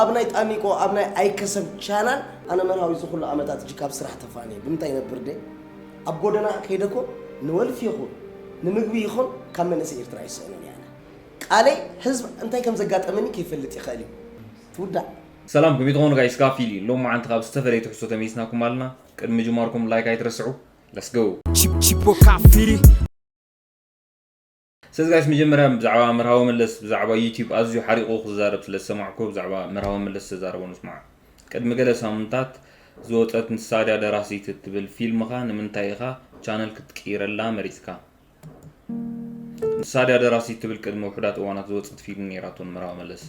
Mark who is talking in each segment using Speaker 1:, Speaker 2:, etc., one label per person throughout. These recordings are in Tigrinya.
Speaker 1: ኣብ ናይ ጣኒቆ ኣብ ናይ ኣይከሰብ ቻናል ኣነ መርሃዊ ዝኹሉ ዓመታት እጅ ካብ ስራሕ ተፋንየ ብምንታይ ይነብር ደይ ኣብ ጎደና ከይደ እኮ ንወልፊ ይኹን ንምግቢ ይኹን ካብ መንእሰይ ኤርትራ ይስእኑን እየ ኣነ ቃለይ ህዝብ እንታይ ከም ዘጋጠመኒ ከይፈልጥ ይኽእል እዩ ትውዳእ ሰላም ከመይ
Speaker 2: ትኾኑ ጋይስ ጋፊል እዩ ሎም መዓንቲ ካብ ዝተፈለየ ትሕዝቶ ተመይስናኩም ኣለና ቅድሚ ምጅማርኩም ላይክ ኣይትረስዑ ለስ ጎ Chip, chip, o
Speaker 3: cafiri.
Speaker 2: ስለዚ ጋይስ መጀመርያ ብዛዕባ መርሃዊ መለስ ብዛዕባ ዩቱብ ኣዝዩ ሓሪቑ ክዛረብ ስለ ዝሰማዕኩ ብዛዕባ መርሃዊ መለስ ዝተዛረቦ ንስማዕ። ቅድሚ ገለ ሳምንታት ዝወጸት ንሳ ድያ ደራሲት እትብል ፊልምኻ ንምንታይ ኢኻ ቻነል ክትቅይረላ መሪጽካ? ንሳ ድያ ደራሲት ትብል ቅድሚ ውሑዳት እዋናት ዝወጸት ፊልም ኔራቶ ንመርሃዊ መለስ።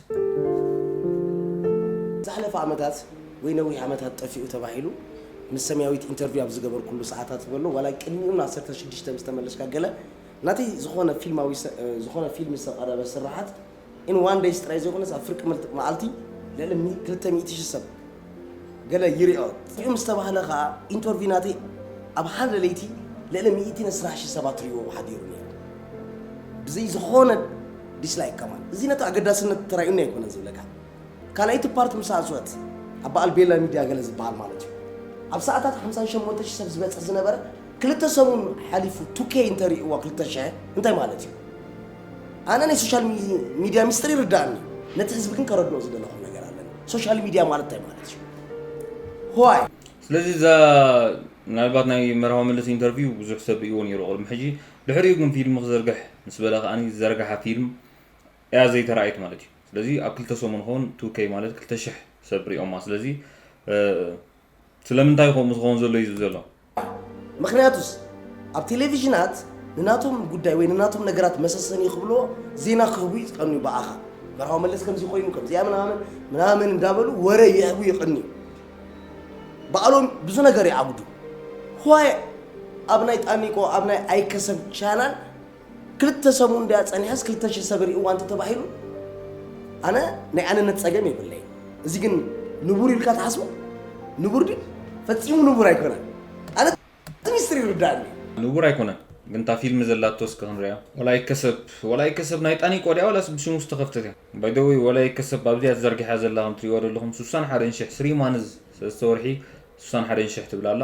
Speaker 1: ዝሓለፈ ዓመታት ወይ ነዊሕ ዓመታት ጠፊኡ ተባሂሉ ምስ ሰምያዊት ኢንተርቪው ኣብ ዝገበርኩሉ ሰዓታት በሎ ዋላ ቅድሚኡን ዓሰርተ ሽዱሽተ ምስ ተመለስካ ገለ ናቲ ዝኾነ ፊልማዊ ዝኾነ ፊልሚ ዝተቐረበ ስርሓት in one days ጥራይ ዘይኮነስ ኣብ ፍርቂ መዓልቲ ልዕሊ ክልተ ሚእቲ ሽሕ ሰብ ገለ ይሪኦ ሪኡ ምስ ተባህለ ከኣ ኢንቶርቪ ናቲ ኣብ ሓደ ለይቲ ልዕሊ ሚእቲ ነስራሕ ሽሕ ሰባት ሪዎ ሓዲሩ ነይሩ ብዘይ ዝኾነ ዲስላይክ ከማን እዚ ነቲ ኣገዳስነት ተራእዩኒ ኣይኮነን ዝብለካ ካልኣይቲ ፓርት ምስ ኣትወት ኣብ በዓል ቤላ ሚድያ ገለ ዝበሃል ማለት እዩ ኣብ ሰዓታት ሓምሳን ሸሞንተ ሽሕ ሰብ ዝበፅሕ ዝነበረ ክልተ ሰሙን ሓሊፉ ቱኬ እንተሪእዋ ክልተ ሽሕ እንታይ ማለት እዩ? ኣነ ናይ ሶሻል ሚድያ ሚስጥር ይርዳእኒ ነቲ ህዝቢ ግን ከረድኦ ዝደለኹ ነገር ኣለኒ ሶሻል ሚድያ ማለት እንታይ ማለት እዩ? ዋይ ስለዚ
Speaker 2: እዛ ምናልባት ናይ መርሃዊ መለስ ኢንተርቪው ብዙሕ ሰብ ርእይዎ ነይሩ ቅድሚ ሕጂ ድሕሪኡ ግን ፊልም ክዝርግሕ ምስ በለ ከኣ ዝዘርግሓ ፊልም እያ ዘይተራእየት ማለት እዩ ስለዚ ኣብ ክልተ ሰሙን ኸውን ቱከይ ማለት ክልተ ሽሕ ሰብ ሪኦማ ስለዚ ስለምንታይ ከምኡ ዝኸውን ዘሎ እዩ ዘሎ ምክንያቱስ
Speaker 1: ኣብ ቴሌቪዥናት ንናቶም ጉዳይ ወይ ንናቶም ነገራት መሰሰኒ ክብሎ ዜና ክህቡ ይቀንዩ ብኣኻ መርሃዊ መለስ ከምዚ ኮይኑ ከምዚኣ ምናምን ምናምን እንዳበሉ ወረ ይህቡ ይቀንዩ በዓሎም ብዙ ነገር ይዓብዱ ዋይ ኣብ ናይ ጣኒቆ ኣብ ናይ ኣይከሰብ ቻናል ክልተ ሰሙን ድያ ጸኒሓስ ክልተ ሽሕ ሰብ ርእይዋ እንተተባሂሉ ኣነ ናይ ኣነነት ጸገም የብለይ። እዚ ግን ንቡር ኢልካ ትሓስቦ ንቡር ድዩ? ፈጺሙ ንቡር ኣይኮነን። ኣነ እቲ ሚስጥር ይርድኣኒ። ንቡር ኣይኮነን
Speaker 2: ግን እታ ፊልሚ ዘላቶ እስከ ክንሪኣ። ወላ ይከሰብ ወላ ይከሰብ ናይ ጣኒቆ ድያ ወላስ ብሽሙ ዝተኸፍተት እያ? ባይ ዘ ወይ ወላ ይከሰብ ኣብዚኣ ተዘርጊሓ ዘላ ከም ትሪእዋ ዘለኹም ስሳን ሓደን ሽሕ ስሪ ማንዝ ሰለስተ ወርሒ ስሳን ሓደን ሽሕ ትብል ኣላ።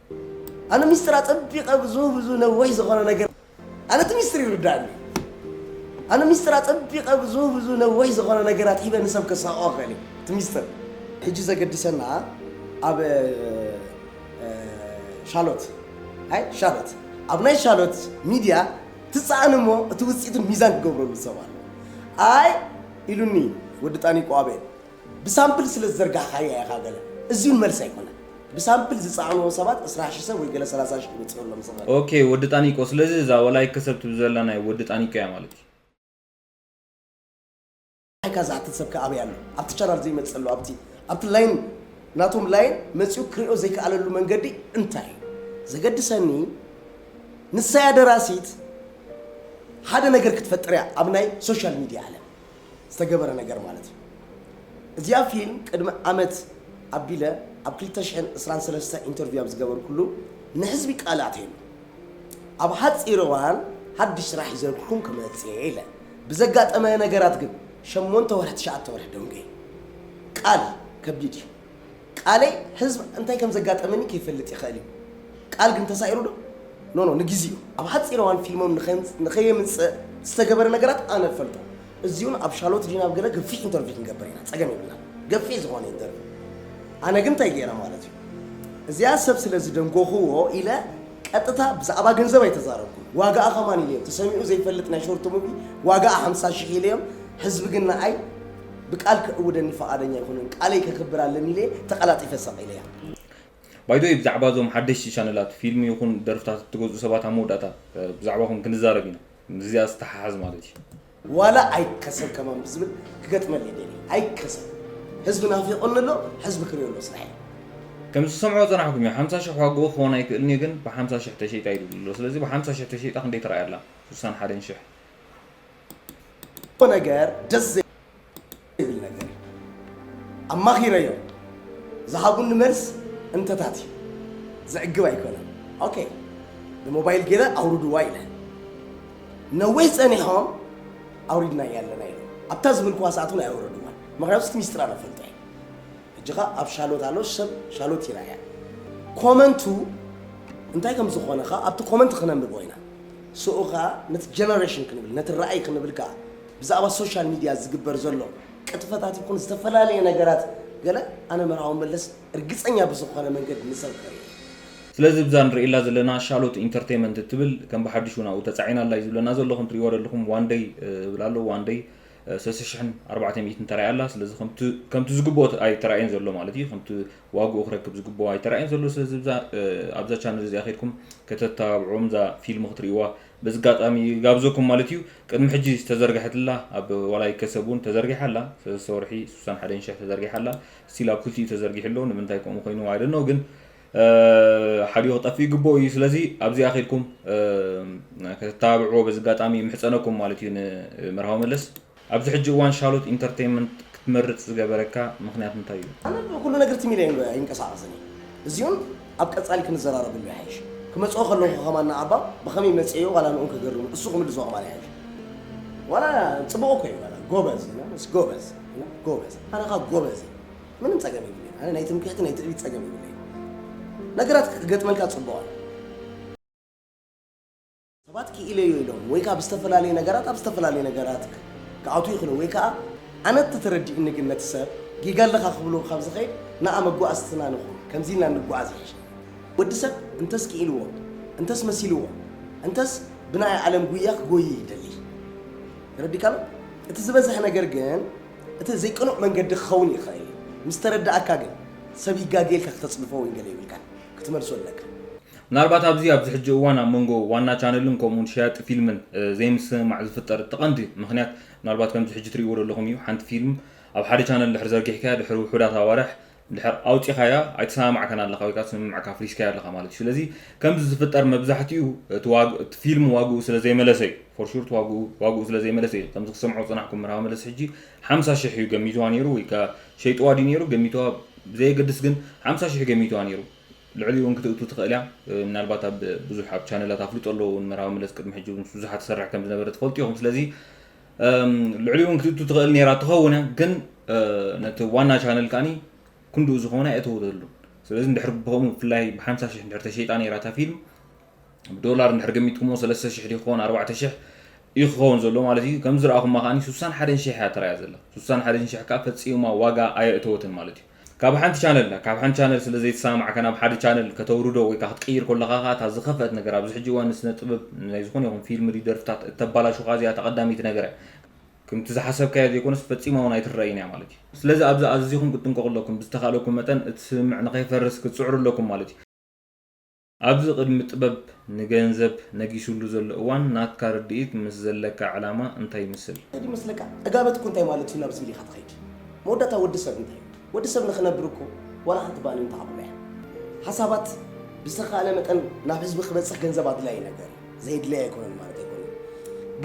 Speaker 1: ኣነ ሚስጥር ኣጸቢቐ ብዙ ብዙ ነዊሕ ዝኾነ ነገር ኣነ እቲ ሚስጥር ይርዳእኒ ኣነ ሚስጥር ኣጸቢቐ ብዙ ብዙ ነዊሕ ዝኾነ ነገራት ሂበ ንሰብ ከሳቕኦ ክኽእል እየ እቲ ሚስጥር ሕጂ ዘገድሰና ኣብ ሻሎት ኣይ ሻሎት ኣብ ናይ ሻሎት ሚድያ ትፀኣን እሞ እቲ ውፅኢቱን ሚዛን ክገብረሉ ሰብ ኣሎ ኣይ ኢሉኒ ወዲ ጣኒቆ ኣበይ ብሳምፕል ስለ ዝዘርጋሕካያ ኢኻ ገለ እዚ እውን መልሲ ኣይኮነን ብሳምፕል ዝጸዓንዎ ሰባት ዕስራ ሽሕ ሰብ ወይ ገለ ሰላሳ ሽሕ ክበጽሖሎም ዝኽእል ኦኬ ወዲ ጣኒቆ
Speaker 2: ስለዚ እዛ ወላይከ ሰብ ትብል ዘላ ናይ ወዲ ጣኒቆ እያ ማለት
Speaker 1: እዩ። ኣይካ ዝሓትት ሰብከ ኣበይ ኣሎ ኣብቲ ቻናል ዘይመጽእ ኣሎ ኣብቲ ኣብቲ ላይን ናቶም ላይን መጺኡ ክሪኦ ዘይከኣለሉ መንገዲ እንታይ እዩ ዘገድሰኒ ንሳያ ደራሲት ሓደ ነገር ክትፈጥር እያ ኣብ ናይ ሶሻል ሚድያ ዓለም ዝተገበረ ነገር ማለት እዩ። እዚኣ ፊልም ቅድሚ ዓመት ኣቢለ ኣብ ክልተ ሽሕን ዕስራን ሰለስተ ኢንተርቪው ኣብ ዝገበርኩሉ ንሕዝቢ ቃል ኣትየሉ። ኣብ ሓጺር እዋን ሓድሽ ስራሕ ሒዘልኩም ክመጽእ እየ ኢለ። ብዘጋጠመ ነገራት ግን ሸሞንተ ወርሒ ትሽዓተ ወርሒ ደንጉየ። ቃል ከቢድ እዩ። ቃለይ ህዝብ እንታይ ከም ዘጋጠመኒ ከይፈልጥ ይኸእል እዩ ቃል ግን ተሳኢሩ ዶ ኖ ኖ ንግዚኡ ኣብ ሓጺር እዋን ፊልሞም ንኸየምጽእ ዝተገበረ ነገራት ኣነ እፈልጦ እዚውን ኣብ ሻሎት ዲና ኣብ ገለ ገፊሕ ኢንተርቪው ክንገብር ኢና ጸገም የብልና ገፊሕ ዝኾነ ኢንተርቪው ኣነ ግን እንታይ ገይረ ማለት እዩ እዚኣ ሰብ ስለ ዝደንጎኽዎ ኢለ ቀጥታ ብዛዕባ ገንዘብ ኣይተዛረብኩ ዋጋኣ ከማን ኢለዮም ተሰሚዑ ዘይፈልጥ ናይ ሾርት ሙቪ ዋጋኣ ሓምሳ ሽሕ ኢለዮም ህዝቢ ግን ንኣይ ብቃል ክዕውደኒ ፈቓደኛ ኣይኮነን ቃለይ ከክብር ኣለኒ ኢለ ተቐላጢፈ ሰቕ ኢለያ። By
Speaker 2: the way ብዛዕባ እዞም ሓደሽቲ ቻነላት ፊልም ይኹን ደርፍታት እትገዝኡ ሰባት ኣብ መወዳእታ ብዛዕባኹም ክንዛረብ ኢና ምስዚኣ ዝተሓሓዝ ማለት እዩ። ዋላ ኣይከሰብ
Speaker 1: ከማን ብዝብል ክገጥመልይ ደልየ ኣይከሰብ ህዝቢ ናፊቁኒ ኣሎ ሕዝቢ ክሪኦ ኣሎ ስራሐይ። ከም ዝሰምዖ
Speaker 2: ጸናሕኩም እዩ ሓምሳ ሽሕ ዋግኡ ክኮን ኣይክእልን እዩ ግን ብሓምሳ ሽሕ ተሸይጣ ኢሉ ኣሎ ስለዚ ብሓምሳ ሽሕ ተሸይጣ ክንደይ ተራእያ ኣላ ስሳን ሓደን ሽሕ
Speaker 1: ነገር ደስ ዘይብል ነገር ኣማኺረዮም ዝሃቡኒ መልስ እንተታት እዩ ዘዕግብ ኣይኮነን ኦኬ ብሞባይል ገይረ ኣውርድዋ ኢለ ነዊሕ ጸኒሖም ኣውሪድና እያለና ኢለ ኣብታ ዝበልክዋ ሰዓት እውን ኣይወረድዋን ምክንያቱ እቲ ሚስጥር ኣነፈልጦ እየ ሕጂ ከኣ ኣብ ሻሎት ኣሎ ሰብ ሻሎት ይርኣያ ኮመንቱ እንታይ ከም ዝኾነ ከኣ ኣብቲ ኮመንት ክነንብቦ ኢና ስኡ ከኣ ነቲ ጀነሬሽን ክንብል ነቲ ራእይ ክንብል ከኣ ብዛዕባ ሶሻል ሚድያ ዝግበር ዘሎ ቅጥፈታት ይኹን ዝተፈላለየ ነገራት ገለ ኣነ መርሃዊ መለስ እርግጸኛ ብዝኾነ መንገዲ ንሰብከ እዩ ስለዚ
Speaker 2: ብዛ ንርእየላ ዘለና ሻሎት ኢንተርተይመንት እትብል ከም ብሓድሽ እውን ኣብኡ ተጻዒና ኣላ እዩ ዝብለና ዘሎ ከም ትርእይዎ ዘለኹም ዋን ደይ እብል ኣሎ ዋን ደይ ሰለስተ ሽሕን ኣርባዕተ ሚእትን ተራእያ ኣላ። ስለዚ ከምቲ ከምቲ ዝግብኦ ኣይተራእየን ዘሎ ማለት እዩ። ከምቲ ዋግኡ ክረክብ ዝግብኦ ኣይተራእየን ዘሎ። ስለዚ እዛ ኣብዛ ቻነል እዚኣ ከድኩም ከተተባብዑዎም እዛ ፊልም ክትርእይዋ በዚ ኣጋጣሚ ይጋብዘኩም ማለት እዩ። ቅድሚ ሕጂ ዝተዘርግሐት ኣላ ኣብ ዋላ ይከሰብ እውን ተዘርጊሓ ኣላ። ሰለስተ ወርሒ ስሳን ሓደን ሽሕ ተዘርጊሓ ኣላ። ስቲል ኣብ ክልቲኡ ተዘርጊሑ ኣሎ። ንምንታይ ከምኡ ኮይኑ ኣይ ዶንት ኖው ግን ሓዲኡ ክጠፍእ ይግበኦ እዩ ስለዚ ኣብዚኣ ከድኩም ከተተባብዕዎ በዚ ኣጋጣሚ ይምሕጸነኩም ማለት እዩ ንመርሃዊ መለስ ኣብዚ ሕጂ እዋን ሻሎት ኢንተርተይመንት ክትመርጽ ዝገበረካ ምክንያት እንታይ እዩ? ኣነ ብኩሉ ነገር ትም ኢለ
Speaker 1: ኣይንቀሳቀስን እየ እዚኡን ኣብ ቀጻሊ ክንዘራረበሉ ይሓይሽ ክመጽኦ ከለኩ ከማን ንኣባ ብከመይ መጽኤዮ ዋላ ንኡ ከገርሙ እሱ ክምልሶ ከማን ይሓይሽ ዋላ ጽቡቅ እኮ እዩ ዋላ ጎበዝ ጎበዝ ጎበዝ ኣነካ ጎበዝ ምንም ጸገም የብለይን ኣነ ናይ ትምክሕቲ ናይ ትዕቢት ጸገም የብለይን ነገራት ክገጥመልካ ጽቡቕ ኣሎ ሰባት ክኢለዮ ኢሎም ወይ ከዓ ብዝተፈላለየ ነገራት ኣብ ዝተፈላለየ ነገራት ክኣቱ ይኽእሉ ወይ ከዓ ኣነ ተተረዲእኒ ግን ነቲ ሰብ ጌጋ ኣለኻ ክብሎ ካብ ዝኸይድ ንኣ መጓዓዝትና ንኹን ከምዚ ኢልና ንጓዓዝ ይሕሽ ወዲ ሰብ እንተስ ክኢልዎ እንተስ መሲልዎ እንተስ ብናይ ዓለም ጉያ ክጎይ ይደሊ ተረዲካሎ እቲ ዝበዝሐ ነገር ግን እቲ ዘይቅኑዕ መንገዲ ክኸውን ይኽእል እዩ፣ ምስ ተረድኣካ ግን ሰብ ይጋገ ኢልካ ክተጽድፎ ወይ ገለ የብልካን፣ ክትመልሶ ኣለካ። ምናልባት ኣብዚ
Speaker 2: ኣብዚ ሕጂ እዋን ኣብ መንጎ ዋና ቻነልን ከምኡውን ሸያጢ ፊልምን ዘይምስምማዕ ዝፍጠር እቲ ቀንዲ ምኽንያት ምናልባት ከምዚ ሕጂ ትርእይዎ ዘለኹም እዩ፣ ሓንቲ ፊልም ኣብ ሓደ ቻነል ድሕሪ ዘርጊሕካያ ድሕሪ ውሑዳት ኣዋርሕ ድሕር ኣውጺኻያ ኣይተሰማማዕካን ኣለኻ ወይ ከኣ ስምምዕካ ኣፍሪስካዮ ኣለኻ ማለት እዩ ስለዚ ከምዚ ዝፍጠር መብዛሕቲኡ እቲ ዋግ እቲ ፊልም ዋግኡ ስለ ዘይመለሰ እዩ ፎር ሹር እቲ ዋግኡ ዋግኡ ስለ ዘይመለሰ እዩ ከምዚ ክሰምዖ ዝጸናሕኩ መርሃባ መለስ ሕጂ ሓምሳ ሽሕ እዩ ገሚትዋ ነይሩ ወይ ከኣ ሸይጥዋ ድዩ ነይሩ ገሚትዋ ብዘየገድስ ግን ሓምሳ ሽሕ ገሚትዋ ነይሩ ልዕሊኡ እውን ክትእቱ ትኽእል እያ ምናልባት ኣብ ብዙሕ ኣብ ቻነላት ኣፍልጦ ኣለዎ እውን መርሃባ መለስ ቅድሚ ሕጂ ምስ ብዙሓት ትሰርሕ ከም ዝነበረ ትፈልጡ ኢኹም ስለዚ ልዕሊ እውን ክትእቱ ትኽእል ነራ ትኸውን እያ ግን ነቲ ዋና ቻነል ከዓኒ ክንድኡ ዝኾነ ኣይእተወተሉ ስለዚ ንድሕር ብኸምኡ ብፍላይ ብሓምሳ ሽሕ ንድሕር ተሸይጣ ነራ እታ ፊልም ብዶላር ንድሕር ገሚትኩሞ ሰለስተ ሽሕ ዲክኸውን ኣርባዕተ ሽሕ እዩ ክኸውን ዘሎ ማለት እዩ ከም ዝረኣኹማ ከዓኒ ስሳን ሓደን ሽሕ እያ ተራእያ ዘላ ስሳን ሓደን ሽሕ ከዓ ፈፂማ ዋጋ ኣየእተወትን ማለት እዩ ካብ ሓንቲ ቻነል ናብ ካብ ሓንቲ ቻነል ስለ ዘይተሰማማዕካ ናብ ሓደ ቻነል ከተውርዶ ወይ ከኣ ክትቅይር ኮለኻ ከኣ እታ ዝኸፍኣት ነገር ኣብዚ ሕጂ እዋን ንስነ ጥበብ ናይ ዝኾነ ይኹን ፊልም ሪ ደርፍታት እተባላሹ ከኣ እዚኣ እታ ቀዳመይቲ ነገር እያ ክምቲ ዝሓሰብካዮ ዘይኮነስ ፈጺማ ውን ኣይትረኣይን እያ ማለት እዩ። ስለዚ ኣብዚ ኣዚኹም ክትጥንቀቑ ኣለኩም ብዝተኻእለኩም መጠን እቲ ስምምዕ ንኸይፈርስ ክትጽዕሩ ኣለኩም ማለት እዩ። ኣብዚ ቅድሚ ጥበብ ንገንዘብ ነጊሱሉ ዘሎ እዋን ናትካ ርድኢት ምስ ዘለካ ዕላማ እንታይ ይምስል? እንታይ ይመስለካ? ዕጋበት
Speaker 1: እኮ እንታይ ማለት እዩ ናብ ዝብል ኢኻ ትኸይድ። መወዳእታ ወዲ ሰብ እንታይ እዩ? ወዲ ሰብ ንኽነብር እኮ ዋላ ሓንቲ ባኒ እንተዓብሎ እያ። ሓሳባት ብዝተኻእለ መጠን ናብ ህዝቢ ክበፅሕ ገንዘብ ኣድላዪ ነገር እዩ። ዘየድለይ ኣይኮነን ማለት ኣይኮነን።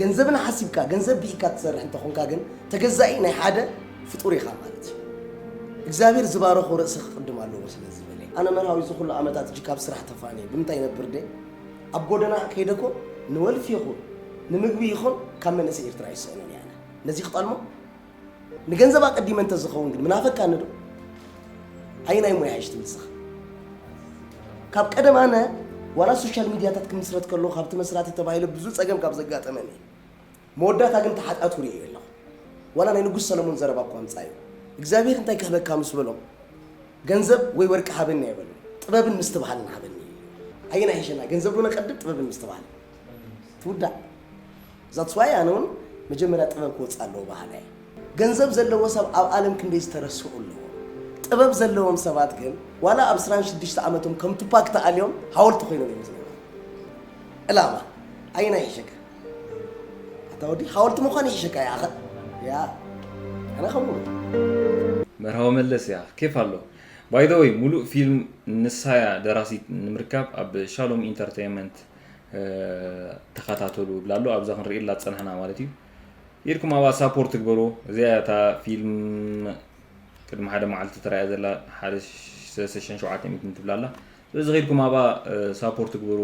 Speaker 1: ገንዘብን ሓሲብካ ገንዘብ ብኢካ ትሰርሕ እንተኾንካ ግን ተገዛኢ ናይ ሓደ ፍጡር ኢኻ ማለት እዩ። እግዚኣብሔር ዝባረኾ ርእሲ ክቕድም ኣለዎ ስለ ዝበለ ኣነ መርሃዊ እዚ ኩሉ ዓመታት እጅ ካብ ስራሕ ተፋንየ ብምንታይ ነብር ደ ኣብ ጎደና ከይደ ኮ ንወልፊ ይኹን ንምግቢ ይኹን ካብ መንእሰይ ኤርትራ ይስእኖን እያ ነዚ ክጠልሞ ንገንዘብ ኣቀዲመ እንተዝኸውን ግን ምናፈቃኒ ዶ ኣየናይ ሞያ እሽ ትብል ስኻ ካብ ቀደም ኣነ ዋላ ሶሻል ሚዲያታት ክምስረት ከሎ ካብቲ መስራቲ ተባሂለ ብዙ ፀገም ካብ ዘጋጠመኒ መወዳእታ ግን ተሓጣቱ ርዮ ኣለኹ ዋላ ናይ ንጉስ ሰለሞን ዘረባ እኳ ምፃ እዩ እግዚኣብሔር እንታይ ክህበካ ምስ በሎ ገንዘብ ወይ ወርቂ ሃበኒ ኣይበሉ ጥበብን ምስትብሃልን ሃበኒ ኣየና ይሸና ገንዘብ ዶ ነቀድም ጥበብን ምስትብሃል ትውዳእ That's why ኣነ ውን መጀመርያ ጥበብ ክወጽእ ኣለዎ በሃላይ እየ። ገንዘብ ዘለዎ ሰብ ኣብ ኣለም ክንደይ ዝተረስዑ ኣለዉ። ጥበብ ዘለዎም ሰባት ግን ዋላ ኣብ ዕስራን ሽዱሽተ ዓመቶም ከም ቱፓክ ተኣልዮም ሃወልቲ ኮይኖም እዮም ዝነብሩ። ዕላማ ኣየናይ ይሕሸካ? ኣታ ወዲ ሃወልቲ ምዃን ይሕሸካ ይኣኸ ያ ኣነ ከምኡ እየ። መርሃዊ
Speaker 2: መለስ እያ ኬፍ ኣሎ። By the way ሙሉእ ፊልም ንሳያ ደራሲት ንምርካብ ኣብ ሻሎም ኢንተርተይመንት ተኸታተሉ ይብላ ኣሎ ኣብዛ ክንርእየላ ዝፀናሕና ማለት እዩ ኢድኩም ኣብኣ ሳፖርት ትግበሩ እዚኣ እታ ፊልም ቅድሚ ሓደ መዓልቲ ተራእያ ዘላ ሓደ ሰሽን ሸውዓተ ሚትን ትብላ ኣላ ስለዚ ከይድኩም ኣብኣ ሳፖርት ትግበሩ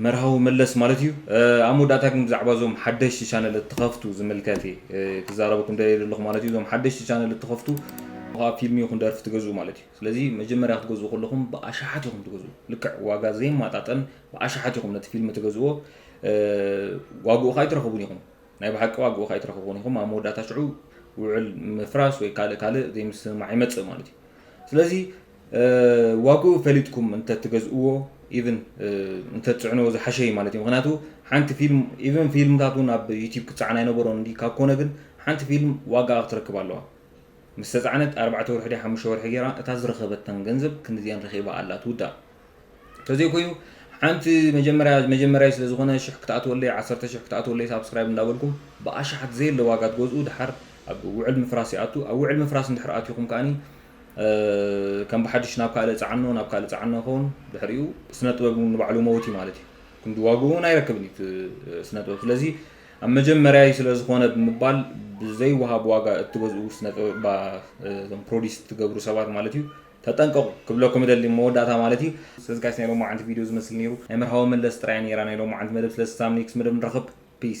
Speaker 2: መርሃዊ መለስ ማለት እዩ ኣብ መወዳእታ ግን ብዛዕባ እዞም ሓደሽቲ ቻነል እትኸፍቱ ዝምልከት እየ ክዛረበኩም ደልየ ዘለኹ ማለት እዩ እዞም ሓደሽቲ ቻነል እትኸፍቱ ፊልም ይኹን ደርፊ ትገዝኡ ማለት እዩ ስለዚ መጀመርያ ክትገዝኡ ከለኹም ብኣሽሓት ኢኹም ትገዝኡ ልክዕ ዋጋ ዘይማጣጠን ብኣሽሓት ኢኹም ነቲ ፊልም ትገዝዎ ዋግኡ ከኣ ኣይትረኽቡን ኢኹም ናይ ብሓቂ ዋግኡ ከኣ ኣይትረኽቡን ኢኹም ኣብ መወዳእታ ሽዑ ውዕል ምፍራስ ወይ ካልእ ካልእ ዘይምስምማዕ ይመጽእ ማለት እዩ ስለዚ ዋግኡ ፈሊጥኩም እንተ ትገዝእዎ ኢቭን እንተ ትጽዕንዎ ዝሓሸ እዩ ማለት እዩ ምክንያቱ ሓንቲ ፊልም ኢቭን ፊልምታት እውን ኣብ ዩቲብ ክጸዓን ኣይነበሮን እንዲ ካብ ኮነ ግን ሓንቲ ፊልም ዋጋኣ ክትረክብ ኣለዋ ምስ ተጻዕነት ኣርባዕተ ወርሒ ድያ ሓሙሽተ ወርሒ ጌራ እታ ዝረኸበታን ገንዘብ ክንድዚኤን ረኺባ ኣላ ትውዳእ ተዘይ ኮይኑ ሓንቲ መጀመርያ መጀመርያይ ስለ ዝኾነ ሽሕ ክትኣትወለይ ዓሰርተ ሽሕ ክትኣትወለይ ሳብስክራይብ እንዳበልኩም ብኣሽሓት ዘየለ ዋጋ ትገዝኡ ድሓር ኣብ ውዕል ምፍራስ ይኣቱ ኣብ ውዕል ምፍራስ እንድሕር ኣቲኹም ከኣኒ ከም ብሓድሽ ናብ ካልእ ጻዕኖ ናብ ካልእ ጻዕኖ ይኸውን ድሕሪኡ ስነ ጥበብ ንባዕሉ መውት እዩ ማለት እዩ ክንዲ ዋግኡ እውን ኣይረክብን እዩ ስነ ጥበብ ስለዚ ኣብ መጀመርያይ ስለ ዝኾነ ብምባል ብዘይወሃብ ዋጋ እትገዝኡ ስነ ጥበብ እባ እዞም ፕሮዲስ እትገብሩ ሰባት ማለት እዩ ተጠንቀቑ ክብለኩም እደሊ ኣብ መወዳእታ ማለት እዩ። ስለዚ ጋይስ ናይ ሎማዓንቲ ቪድዮ ዝመስል ኔሩ ናይ መርሃዊ መለስ ጥራያ ኔራ ናይ ሎማዓንቲ መደብ ስለዚ ሳብ ኔክስ መደብ ንራኸብ ፒስ።